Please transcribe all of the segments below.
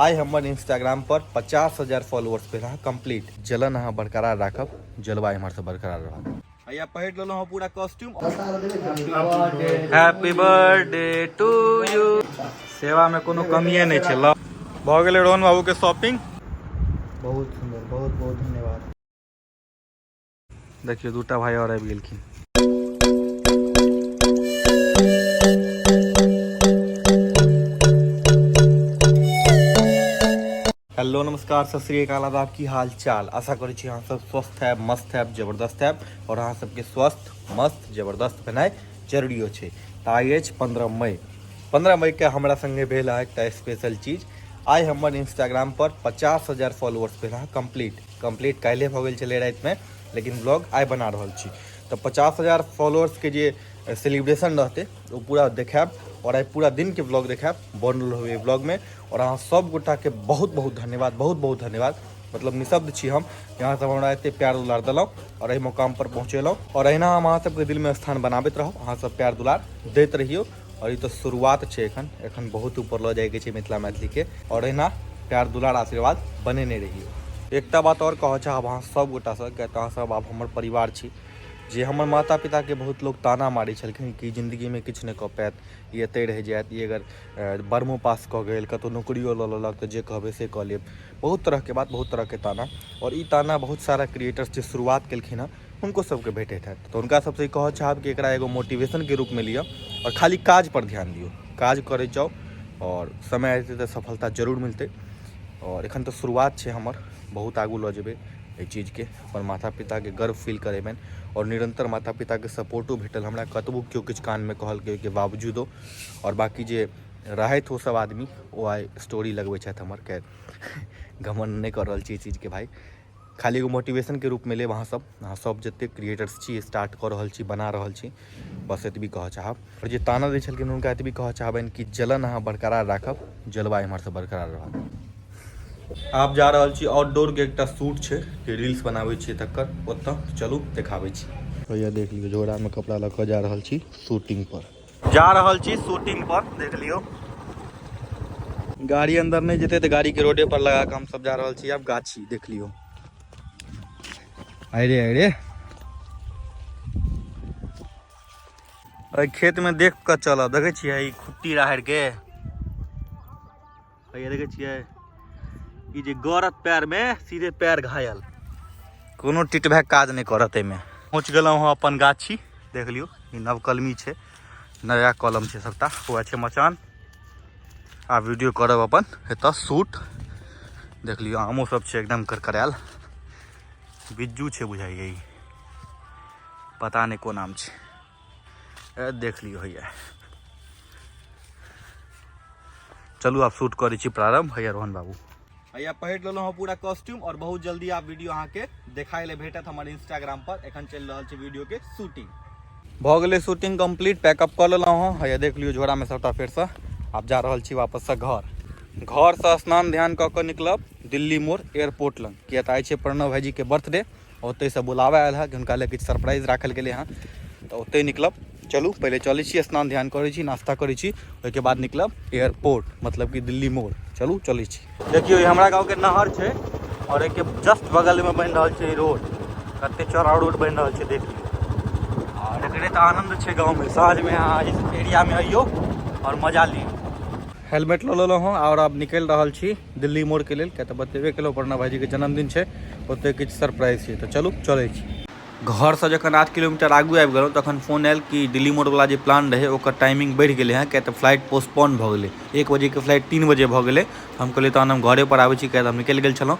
आइ हमर इंस्टाग्राम पर पचास हजार फॉलोअर्स पे रहा कंप्लीट जलन अहाँ बरकरार राखब जलवा इम्हर से बरकरार रहत भैया पहर लो हम पूरा costume happy birthday to you सेवा में कोनो कमिए नहीं छे लो भ गेले रोहन बाबू के शॉपिंग बहुत सुंदर बहुत बहुत धन्यवाद देखियो दूटा भाई और आबि गेलखिन हेलो नमस्कार सत श्रीकाल आदाब की हाल चाल आशा करै छी अहाँ सब स्वस्थ है मस्त है जबरदस्त है और अहाँ सबके स्वस्थ मस्त जबरदस्त भेनाइ जरूरी छै तऽ आइ अछि पन्द्रह मई पन्द्रह मईके हमरा संगे भेल है एकटा स्पेशल चीज आइ हमर इंस्टाग्राम पर पचास हजार फॉलोअर्स भेल है कम्प्लीट कम्प्लीट काल्हि भऽ गेल छलै रातिमे लेकिन ब्लॉग आइ बना रहल छी तऽ पचास हजार फॉलोअर्सके जे सेलिब्रेशन रहतै ओ पूरा देखायब आओर आइ पूरा दिनके ब्लॉग देखायब बनल रहबै ब्लॉगमे आओर अहाँ सभगोटाके बहुत बहुत धन्यवाद बहुत बहुत धन्यवाद मतलब निशब्द छी हम यहाँ सब हमरा एते प्यार दुलार देलहुँ आओर एहि मुकामपर पहुँचेलहुँ आओर अहिना हम अहाँ सबके दिलमे स्थान बनाबैत रहब अहाँ सब प्यार दुलार दैत रहियौ और ई तो शुरुआत छै एखन एखन बहुत ऊपर लऽ जाएके छै मिथिला मैथिली के और एना प्यार दुलार आशीर्वाद बनेने रहियो एकटा बात और कहऽ चाहब अहाँ सब गोटा से किया अहाँ सब आब हमर परिवार छी जे हमर माता पिता के बहुत लोग ताना मारै छलखिन कि जिंदगी में किछु नहि कऽ पायत ई एतै रहि जायत ई अगर बर्मो पास कऽ गेल कतौ नौकरियो लऽ लेलक तऽ जे कहबै से कऽ लेब बहुत तरह के बात बहुत तरह के ताना और ई ताना बहुत सारा क्रिएटर्स जे शुरुआत केलखिन हँ हुनको सबके भेटैत हैत तऽ हुनका सबसँ ई कहऽ चाहब कि एकरा एगो मोटिवेशनके रूपमे लिअ आओर खाली काजपर ध्यान दियौ काज करैत जाउ आओर समय एतै तऽ सफलता जरूर मिलतै आओर एखन तऽ शुरुआत छै हमर बहुत आगू लऽ जेबै एहि चीजके अपन माता पिताके गर्व फील करेबनि आओर निरन्तर माता पिताके सपोर्टो भेटल हमरा कतबो केओ किछु कानमे कहलकै ओहिके बावजूदो आओर बाँकी जे रहथि ओसभ आदमी ओ आइ स्टोरी लगबै छथि हमर खैर घमण्ड नहि कऽ रहल छी एहि चीजके भाय खाली एगो मोटिवेशनके रूपमे लेब अहाँसभ अहाँसभ जतेक क्रिएटर्स छी स्टार्ट कऽ रहल छी बना रहल छी बस एतबी कहऽ चाहब आओर जे ताना दै छलखिन हुनका एतबी कहऽ चाहबनि कि जलन अहाँ बरकरार राखब जलवा एम्हरसँ बरकरार रहत आब जा रहल छी आउटडोरके एकटा शूट छै जे रील्स बनाबै छियै तकर ओतऽ चलू देखाबै छी भैया देख लियौ झोरामे कपड़ा लऽ कऽ जा रहल छी शूटिंगपर जा रहल छी शूटिंग पर देख लियो गाड़ी अंदर नहीं जेते तो गाड़ी के रोडे पर लगा के हम सब जा रहल छी अब गाछी देख लियो अरे अरे खेत में देख के चल देखे खुट्टी राहर के भैया देखे छिए ई जे गरत पैर में सीधे पैर घायल कोनो टिटभैक काज नहीं करत एहिमे पहुँच गल हँ अपन गाछी देख लियो ई नवकलमी है नया कलम है सबटा हुआ है मचान आ वीडियो करब अपन एत शूट देख लियो आमो सब है एकदम करकरायल बिज्जू है बुझाइए पता नहीं को नाम है देख लियो होइए चलू आब शूट करै छी प्रारम्भ होइए रोहन बाबू हैया पहिर लेलहुँ हँ पूरा कॉस्ट्यूम और बहुत जल्दी आप वीडियो अहाँ के देखाए ले भेटत हमर इंस्टाग्राम पर एखन चलि रहल छै वीडियो के शूटिंग भऽ गेलै शूटिंग कंप्लीट पैकअप कऽ लेलहुँ हँ हैया देख लियौ झोरामे सभटा फेरसँ आब जा रहल छी वापससँ घर घरसँ स्नान ध्यान कऽ कऽ निकलब दिल्ली मोड़ एयरपोर्ट लग किया तऽ आइ छै प्रणव भाईजीके बर्थडे ओतहिसँ बुलावा आयल हँ कि हुनका लए किछु सरप्राइज राखल गेलै हँ तऽ ओतहि निकलब चलू पहिले चलै छी स्नान ध्यान करै छी नाश्ता करै छी ओहिके बाद निकलब एयरपोर्ट मतलब कि दिल्ली मोड़ चलू चलै छी देखियौ ई हमरा गाँवके नहर छै आओर एहिके जस्ट बगलमे बनि रहल छै रोड कते चौड़ा रोड बनि रहल छै देख लियौ आओर एकरे तऽ आनन्द छै गाँवमे साँझमे अहाँ एरियामे अइयौ आओर मजा लियौ हेलमेट लऽ लेलहुँ हँ आओर आब निकलि रहल छी दिल्ली मोड़के लेल किया तऽ बतेबे केलहुँ प्रणा भाईजीके जन्मदिन छै ओतऽ किछु सरप्राइज छै तऽ चलू चलै छी घरसँ जखन आठ किलोमीटर आगू आबि गेलहुँ तखन फोन आयल कि दिल्ली मोड़वला जे प्लान रहै ओकर टाइमिंग बढ़ि गेलै हँ किया तऽ फ्लाइट पोस्टपोन भऽ गेलै एक बजेके फ्लाइट तीन बजे भऽ गेलै हम कहलियै तहन हम घरेपर आबै छी किया तऽ हम निकलि गेल छलहुँ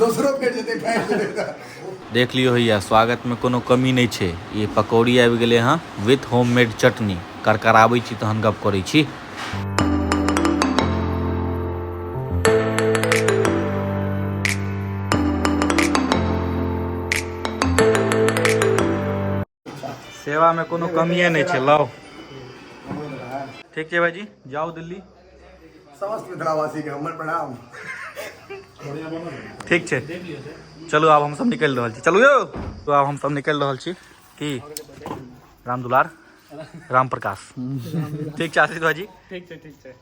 दोसरो फेर जेतै फाटि जेतै तऽ देख लियो होइए स्वागतमे कोनो कमी नहि छै ई पकौड़ी आबि गेलै हँ विथ होममेड चटनी करकराबै छी तहन गप करै छी सेवामे कोनो कमिए नहि छै लाउ ठीक छै भाइजी जाउ दिल्ली समस्त मिथिलावासीके हमर प्रणाम ठीक छै चलू आब हमसभ निकलि रहल छी चलू यौ तो आब हमसभ निकलि रहल छी की राम दुलार राम प्रकाश ठीक छै आशीष भाजी ठीक छै ठीक छै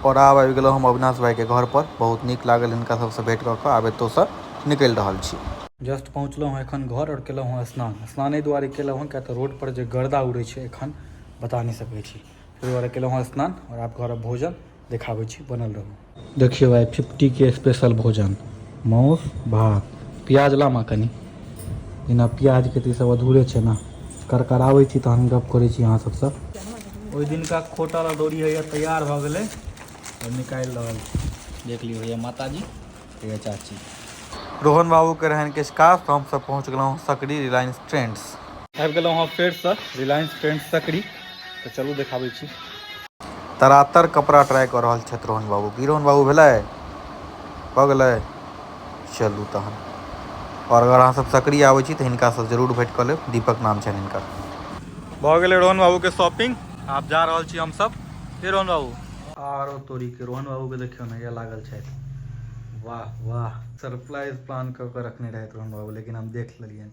आओर आब आबि गेलहुँ हम अविनाश भाइके घरपर बहुत नीक लागल हिनका सबसँ भेँट कऽ कऽ आब एतऽसँ निकलि रहल छी जस्ट पहुँचलहुँ हँ एखन घर आओर केलहुँ हँ स्नान स्नान एहि दुआरे केलहुँ हँ किया तऽ रोडपर जे गर्दा उड़ै छै एखन बता नहि सकै छी ताहि दुआरे केलहुँ हँ स्नान आओर आब घर भोजन देखाबै छी बनल रहू देखियौ आइ फिफ्टीके स्पेशल भोजन माउस भात प्याज लामा कनि बिना प्याजके तऽ ई सब अधूरे छै ने करकराबै छी तहन गप करै छी अहाँ सबसँ ओहि दिनका खोटा अदौरी होइए तैयार भऽ गेलै हम निकालि रहल छी देख लियौ होइए माताजी होइए चाची रोहन बाबूके रहनि किछु काज तऽ हमसभ पहुँच गेलहुँ हँ सकरी रिलायंस ट्रेंड्स आबि गेलहुँ हँ फेरसँ रिलायंस ट्रेंड्स सकरी तऽ चलू देखाबै छी तरातर कपड़ा ट्राई कऽ रहल छथि रोहन बाबू की रोहन बाबू भेलै भऽ गेलै चलू तहन आओर अगर अहाँसभ सकरी आबै छी तऽ हिनकासँ जरूर भेँट कऽ लेब दीपक नाम छनि हिनकर भऽ गेलै रोहन बाबूके शॉपिंग आब जा रहल छी हमसभ हे रोहन बाबू आर तोरीके रोहन बाबूके देखियौ ने यए लागल छथि वाह वाह सरप्राइज प्लान कऽ कऽ रखने रहथि रोहन बाबू लेकिन हम देख लेलियनि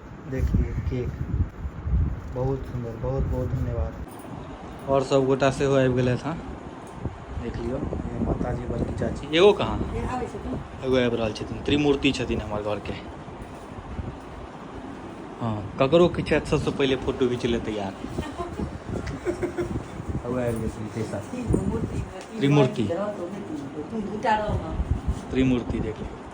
देखियौ केक बहुत सुन्दर बहुत बहुत धन्यवाद आओर सब गोटा सेहो आबि गेलथि हँ देख लियौ माताजी बड़की चाची एगो कहाँ एगो आबि रहल छथिन त्रिमूर्ति छथिन हमर घरके हँ ककरो किछु हैत सबसँ पहिले फोटो घीच ले तैयार त्रिमूर्ति त्रिमूर्ति देख लियौ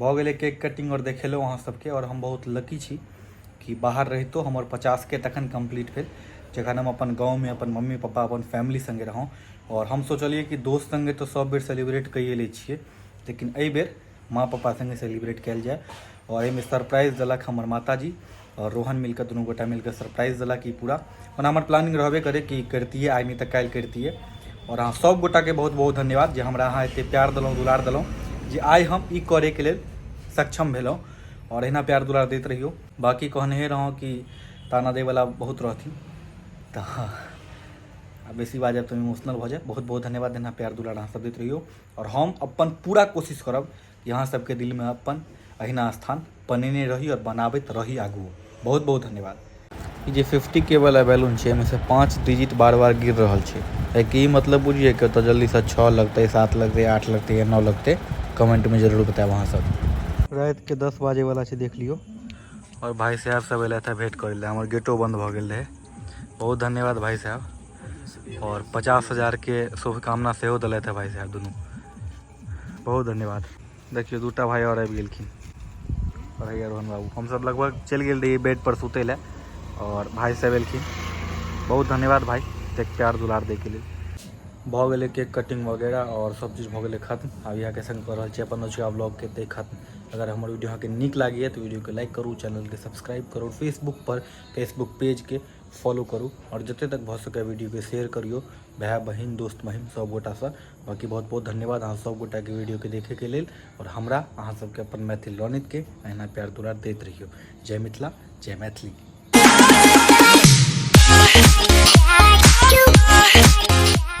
भऽ गेलै केक कटिंग आओर देखेलहुँ अहाँ सबके आओर हम बहुत लकी छी कि बाहर रहितो हमर पचासके तखन कम्प्लीट भेल जखन हम अपन गाँवमे अपन मम्मी पप्पा अपन फैमिली सङ्गे रहौं आओर हम सोचलियै कि दोस्त सङ्गे तऽ सब बेर सेलिब्रेट कइए लै छियै लेकिन एहि बेर माँ पप्पा सङ्गे सेलिब्रेट कयल जाय आओर एहिमे सरप्राइज देलक हमर माताजी आओर रोहन मिलकर दुनू गोटा मिलकर सरप्राइज देलक ई पूरा ओना हमर प्लानिंग रहबे करे कि करितियै आइ नहि तऽ काल्हि करितियै आओर अहाँ सभ गोटाके बहुत बहुत धन्यवाद जे हमरा अहाँ एतेक प्यार देलहुँ दुलार देलहुँ जे आइ हम ई करैके लेल सक्षम भेलहुँ आओर एहिना प्यार दुलार दैत रहियौ बाकी कहने रहौं कि ताना दैवला बहुत रहथिन तऽ आ बेसी बाजब तऽ इमोशनल भऽ जायब बहुत बहुत धन्यवाद एना प्यार दुलार अहाँ सब दैत रहियौ आओर हम अपन पूरा कोशिश करब कि अहाँ सबके दिलमे अपन अहिना स्थान बनेने रही आओर बनाबैत रही आगू बहुत बहुत धन्यवाद ई जे फिफ्टी के वाला बैलून छै एहिमेसँ पाँच डिजिट बार बार गिर रहल छै एहिके ई मतलब बुझिए कि ओतऽ जल्दीसँ छओ लगतै सात लगतै आठ लगतै या नओ लगतै कमेंटमे जरूर बतायब अहाँसभ रातिके दस बाजेवला छै देख लियौ आओर भाय साहब सब एलथि हँ भेंट करै लए हमर गेटो बन्द भऽ गेल रहै बहुत धन्यवाद भाय साहब आओर पचास हजारके शुभकामना सेहो देलथि हँ भाय साहब दुनू बहुत धन्यवाद देखियौ दूटा भाई और आबि गेलखिन पढ़ैया रोहन बाबू हमसभ लगभग चलि गेल रहियै बेडपर सुतै लए आओर भाय सब एलखिन बहुत धन्यवाद भाई एतेक प्यार दुलार दैके लेल भऽ गेलै केक कटिंग वगैरह आओर सब चीज भऽ गेलै खत्म आब इएहके संग कऽ रहल छी अपन नौचुआ ब्लॉगके एतै खत्म अगर हमर वीडियो अहाँके नीक लागैए तऽ वीडियोके लाइक करू चैनलके सब्सक्राइब करू फेसबुकपर फेसबुक पेजके फॉलो करू आओर जतेक तक भऽ सकैए वीडियोके शेयर करियौ भाय बहिन दोस्त महिम सभगोटासँ बाकी बहुत बहुत धन्यवाद अहाँ सब गोटा के वीडियो के देखे के लेल और हमरा अहाँ सब के अपन मैथिल रनित के अहिना प्यार दुलार देत रहियो जय मिथिला जय मैथिली Yeah.